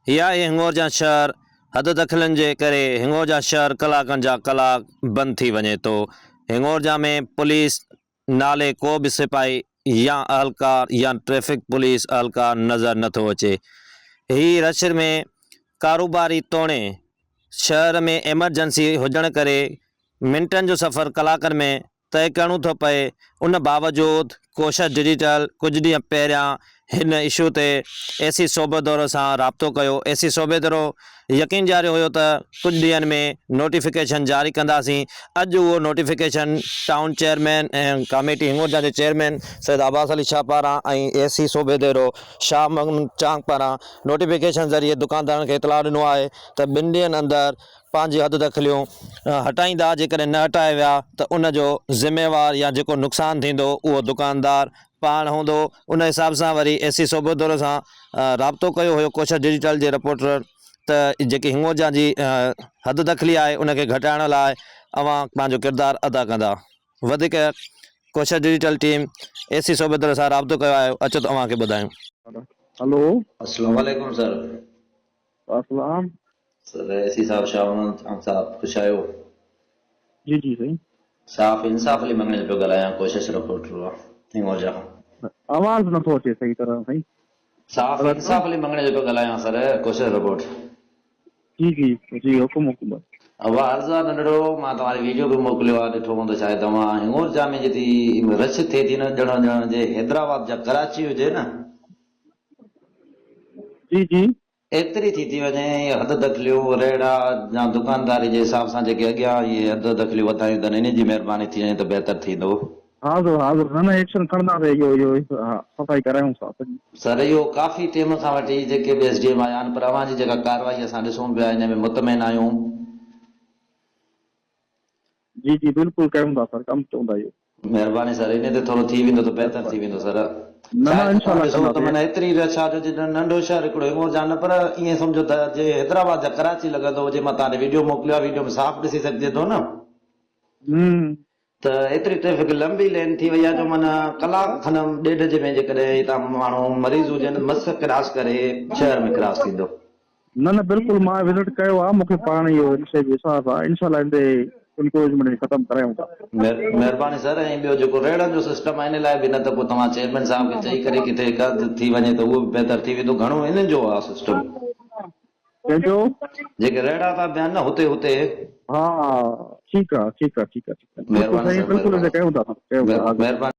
هي آهي هنڱورجان شهر، حد دخلن جي ڪري هنڱورجان شهر ڪلاڪن جا ڪلاڪ بند ٿي وڃي ٿو، هنڱورجان ۾ پوليس نالي ڪو به سپاهي يا اهلڪار يا ٽريفڪ پوليس اهلڪار نظر نه ٿو اچي، هي رش ۾ ڪاروباري توڻي شهر ۾ ايمرجنسي هجڻ ڪري منٽن جو سفر ڪلاڪن ۾ طئي ڪرڻو ٿو پئي، ان باوجود ڪوشش ڊجيٽل ڪجهه ڏينهن پهريان هن اشو تي اي سي صوبه دورو سان رابطو ڪيو، اي سي صوبه دورو يقين ڏياريو هيو ته ڪجهه ڏينهن ۾ نوٽيفڪيشن جاري ڪنداسين، اڄ اهو notification town chairman ۽ committee Hingorja جي چيئرمين سيد عباس علي شاهه پاران ۽ اي سي صوبه دورو شاهه محمد چانگ پاران نوٽيفڪيشن ذريعي دڪاندارن کي اطلاع ڏنو آهي ته ٻن ڏينهن اندر پنهنجي حد دخليون هٽائيندا جيڪڏهن نه هٽايا ويا ته ان جو ذميوار يا جيڪو نقصان ٿيندو اهو دڪاندار پاڻ هوندو ان حساب سان وري اي سي صوبو دورو سان رابطو ڪيو هيو ڪوشش ڊجيٽل جي رپورٽر ته جيڪي هنگوجا جي حد دخلي آهي ان کي گهٽائڻ لاء اوهان پنهنجو ڪردار ادا ڪندا وڌيڪ Koshish Digital team A C صوبي دوري سان رابطو ڪيو آهي اچو ته اوهان کي ٻڌايون. هلو. اسلام عليڪم سر اسلام. سر اي سي صاحب شاهه محمد خان صاحب خوش آهيو. جي جي سائين. صاف انصاف لي مڱڻي پيو ڳالهايان ڪوشش رپورٽر آ هنڱورجا کان. آواز نٿو اچي صحيح طرح سائين. صاف انصاف لي مڱڻي جو پيو ڳالهايان سر ڪوشش رپورٽ. جي جي جي حڪم حڪم. واه عرض آ ننڍڙو مان توهاري ويڊيو به موڪليو آ ڏٺو هوندو شايد توهان هنڱورجا ۾ جتي رش ٿئي ٿي نه ڄڻو ڄڻ جي حيدرآباد جا ڪراچي هجي نه. جي جي. ايتري ٿي ٿي وڃي ۽ اهي حد دخليون، رهڙا يا دڪانداري جي حساب سان جيڪي اڳيان اهي حد دخليون وڌايون اٿن انهن جي مهرباني ٿي وڃي ته بهتر ٿيندو. ها حضور ها حضور نه نه ايڪشن کڻنداسين اهو اهو ها صفائي ڪرايون ٿا سڄي. سر اهو ڪافي ٽيم کان وٺي جيڪي به ايس ڊي ايم آيا آهن پر اوهان جي جيڪا ڪارروائي اسان ڏسون پيا انهي ۾ مطمئن آهيون. جي جي بلڪل ڪيون ٿا سر ڪم چوندا اهو. مھرباني سر انھي تي ٿورو ٿي ويندو ته بهتر ٿي ويندو سر شايد توھان ڏسو ته معنيٰ ايتري رش آھي جو جيڏو ننڍو شھر ھڪڙو ھينگور جھان نه پر ائين سمجھو ته جي حيدرآباد يا ڪراچي لڳندو ھجي مان توھان ڏي ويڊيو موڪليو آھي ويڊيو ۾ صاف ڏسي سگھجي ٿو نه ته ايتري ٽريفڪ لنبي لين ٿي وئي آھي جو معنيٰ ڪلاڪ کن ڏيڍ جي ۾ جيڪڏھن ھتان ماڻھو مريض ھجن مس ڪراس ڪري شھر ۾ ڪراس ٿيندو. نه نه بلڪل مان وزٽ ڪيو آ مونکي پاڻ اهو ان شئي جو احساس آ انشاء الله اندي انڪروجمينٽ کي ختم ڪرايون ٿا. مهرباني سر ۽ ٻيو جيڪو ريڙهن جو سسٽم آهي ان لاء به نه ته پوء توهان چيئرمين صاحب کي چئي ڪري ڪٿي هڪ هنڌ ٿي وڃي ته اهو به بهتر ٿي ويندو گهڻو انهن جو آ سسٽم ڪنهن جو جيڪي ريڙها ٿا بيهن نه هتي هتي. ها ٺيڪ آ ٺيڪ آ ٺيڪ آ ٺيڪ آ بلڪل سائين بلڪل انتي ڪيون ٿا ڪيون ٿا مهرباني.